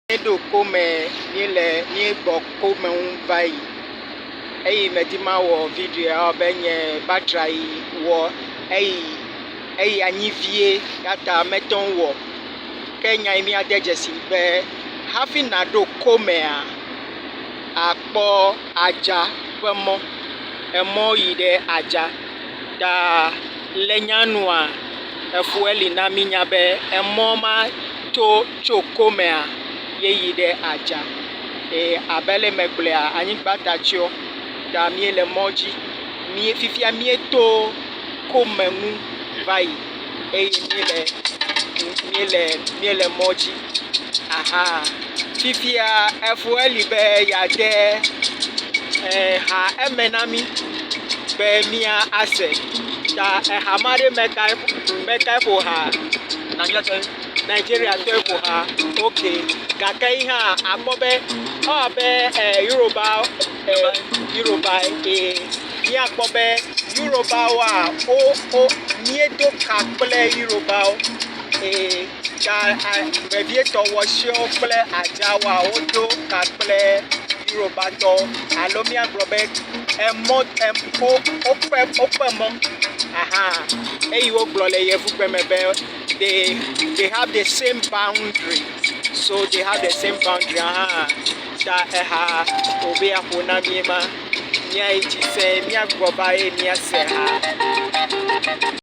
Míeɖo kome, míele, míegbɔ kome ŋu va yi. Eyi medi mawɔ videoa be nye battery wɔ eyi eyi anyi vie ya ta mete ŋu wɔ. Ke nya yi míade dzesi be hafi naɖo komea akpɔ adza ƒe mɔ. Emɔ yi ɖe adza. Ta le nyanua, efue li na mi nya be emɔ ma to tso ko mea ye yi ɖe adza. Eye abe le me gblɔa, anyigba ta tsyɔ ta mi le mɔ dzi. Fifia mi to ko me nu va yi. eye míele, míele, míele mɔ dzi. Aha, fifia efo eli be yeade eer ha eme na mí be míase. Ta eha ma ɖe me kae, me kae ƒo ha? Nigeriatɔe. Nigeriatɔe ƒo ha. Ok. Gake yi hã akpɔ be ewɔ abe eer Yoruba, eer Yoruba ye. míakpɔ be Yorubáwoa, wo, wo, míedo ka kple Yorubáwo. Ee, ta a, vevietɔ wɔsɛwo kple adzawoa, wodo ka kple Yorubátɔwo. Alo míagblɔ be emɔ, em, wo, woƒe, woƒe mɔ. Ahan. Eyi wogblɔ le Yevugbe me be, they, they have the same boundary. So they have the same boundary ahan. Ta eha wòbe yeaƒo na mí ye ma. Miayi dzi se, miagbugbɔ va eye miase ha.